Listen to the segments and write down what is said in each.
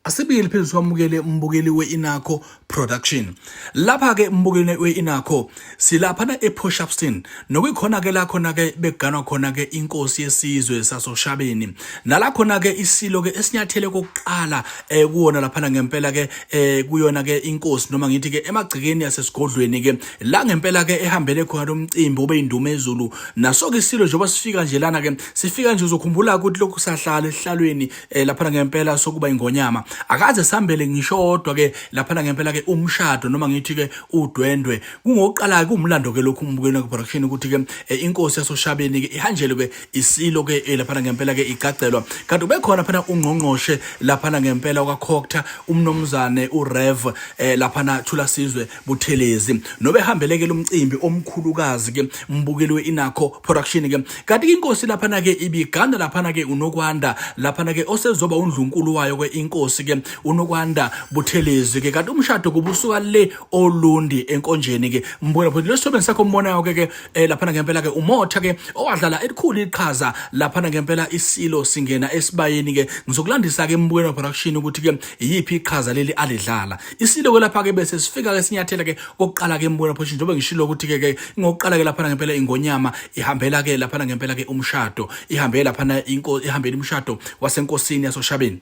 asibili phezulu kwamukele mbukeli we-inakho production lapha-ke mbukeli we-inakho silaphana e-push upston nokuyikhona-ke la khona-ke bekuganwa khona-ke inkosi yesizwe sasoshabeni nala khona-ke isilo-ke esinyathele kokuqala um kuwona laphana ngempela-ke um kuyona-ke inkosi noma ngithi-ke emagcekeni yasesigodlweni-ke la ngempela-ke ehambele khona lo mcimbi obe yinduma ezulu naso-ke isilo njengoba sifika nje lana-ke sifika nje uzokhumbula-ke ukuthi lokhu sahlala esihlalweni eh laphana ngempela sokuba ingonyama akaze sambele ngisho odwa ke laphana ngempela ke umshado noma ngithi ke udwendwe kungoqala ke umlando ke lokhu umbukeni ku production ukuthi ke eh, inkosi yasoshabeni ke ihanjele ke isilo ke eh, laphana ngempela ke igcagcelwa kanti ubekhona phana ungqongqoshe laphana ngempela kwakhokta umnomzane uRev eh, laphana Thula Sizwe Buthelezi nobehambelekela umcimbi omkhulukazi ke mbukeli we-inakho production ke kanti inkosi laphana ke ibiganda laphana ke unokwanda laphana ke osezoba undlunkulu wayo ke inkosi ke unokwanda buthelezi ke kanti umshado kubusuka le olundi enkonjeni ke mbukela futhi lesithobe sakho umbonayo ke ke eh, laphana ngempela ke umotha ke owadlala elikhulu iqhaza laphana ngempela isilo singena esibayeni ke ngizokulandisa ke mbukela production ukuthi ke iyiphi iqhaza leli alidlala isiloko lapha ke bese sifika ke sinyathela ke kokuqala ke embona phosho njengoba ngishilo ukuthi ke ke ngokuqala ke lapha ngempela ingonyama ihambela ke lapha ngempela ke umshado ihambela lapha inkosi ihambela umshado wasenkosini yasoshabeni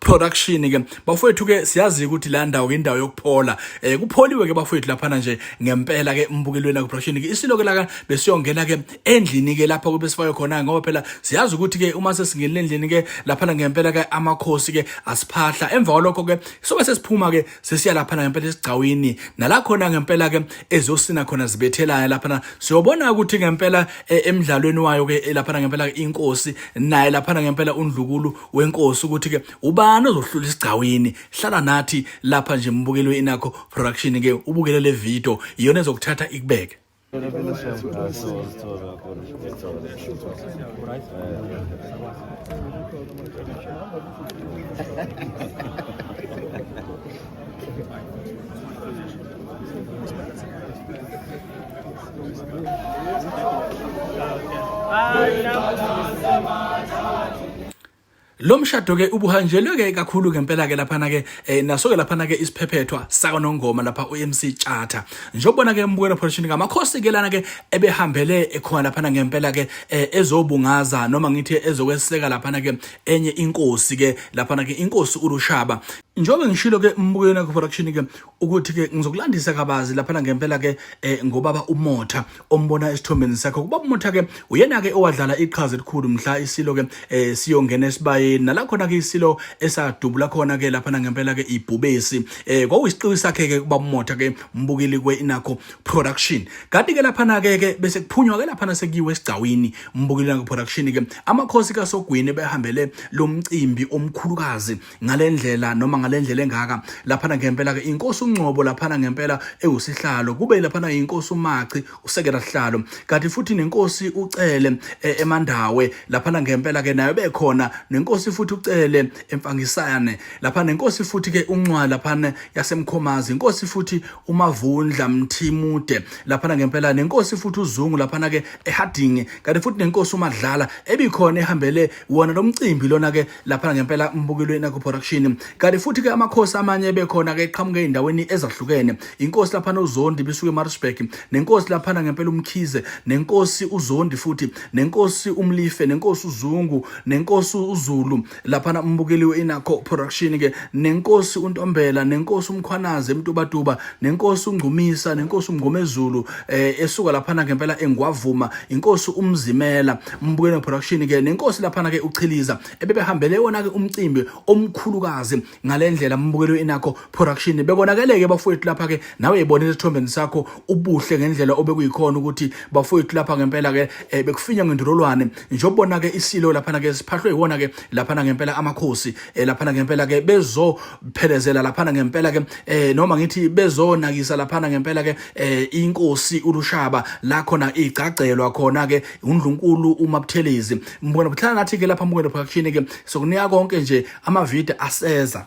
production ke bafowethu ke siyazi ukuthi la ndawo indawo yokuphola eh kupholiwe ke bafowethu laphana nje ngempela ke umbukelweni ku production ke isilo ke la besiyongena ke endlini ke lapha kube sifayo khona ngoba phela siyazi ukuthi ke uma sesingenile endlini ke laphana ngempela ke amakhosi ke asiphahla emva kwalokho ke sobe sesiphuma ke sesiya laphana ngempela esigcawini nala khona ngempela ke ezosina khona zibethelayo laphana siyobona ukuthi ngempela eh, emidlalweni wayo ke eh, laphana ngempela inkosi naye laphana ngempela undlukulu wenkosi ukuthi-ke ubani ozohlula isigcawini hlala nathi lapha nje mbukeli we-inakho production-ke ubukele le video iyona ezokuthatha ikubeke lo mshado ke ubuhanjelwe ke kakhulu ngempela ke lapha na ke eh, naso ke lapha na ke isiphephethwa saka nongoma lapha uMC Charter njobona ke embukela production ngamakhosi ke lana ke ebehambele ekhona lapha na ngempela ke eh, ezobungaza noma ngithi ezokweseka lapha na ke enye inkosi ke lapha na ke inkosi uLushaba njengoba ngishilo ke mbukweni akho production ke ukuthi ke ngizokulandisa kabazi lapha ngempela ke eh, ngobaba umotha ombona esithombeni sakho kuba umotha ke uyena ke owadlala iqhaza elikhulu mhla isilo ke eh, siyongena esibayeni nala khona ke isilo esadubula khona ke lapha ngempela ke ibhubesi eh, kwawusiqiwi sakhe ke kuba umotha ke mbukeli kwe inakho production kanti ke lapha ke ke bese kuphunywa ke lapha sekiwe esigcawini mbukeli nakho production ke amakhosi kasogwini behambele lomcimbi omkhulukazi ngalendlela noma ngalendlela engaka laphana ngempela ke inkosi uNgcobo laphana ngempela ewusihlalo kube laphana inkosi uMachi usekela sihlalo kanti futhi nenkosi uCele e, eMandawe laphana ngempela ke nayo bekhona nenkosi futhi uCele emfangisane lapha nenkosi futhi ke uNcwa laphana yasemkhomazi inkosi futhi uMavundla Mthimude laphana ngempela nenkosi futhi uZungu laphana ke eHarding kanti futhi nenkosi uMadlala ebikhona ehambele wona lomcimbi lona ke lapha ngempela mbukilweni nakuproduction kanti futhi ke amakhosi amanye ebekhona ke eqhamuke endaweni ezahlukene inkosi lapha nozondi bisuke eMaritzburg nenkosi lapha ngempela umkhize nenkosi uzondi futhi nenkosi umlife nenkosi uzungu nenkosi uzulu lapha umbukeliwe inakho production ke nenkosi untombela nenkosi umkhwanazi emtubatuba nenkosi ungcumisa nenkosi umngomezulu eh esuka laphana ngempela engwavuma inkosi umzimela mbukelo production ke nenkosi laphana ke uchiliza ebebehambele wona ke umcimbi omkhulukazi ngalendlela mbukelo inakho production bekonakeleke bafowethu lapha ke nawe yibona isithombeni sakho ubuhle ngendlela obekuyikhona ukuthi bafowethu lapha ngempela ke eh, bekufinya ngendololwane njobona ke isilo laphana ke siphahlwe iwona ke laphana ngempela amakhosi eh, laphana ngempela ke bezo phelezela laphana ngempela ke eh noma ngithi bezonakisa laphana ngempela ke eh inkosi ulushaba la khona igcagcelwa khona ke undlunkulu umabuthelezi mbona buhlala nathi ke lapha mbona production ke sokunika konke nje ama video aseza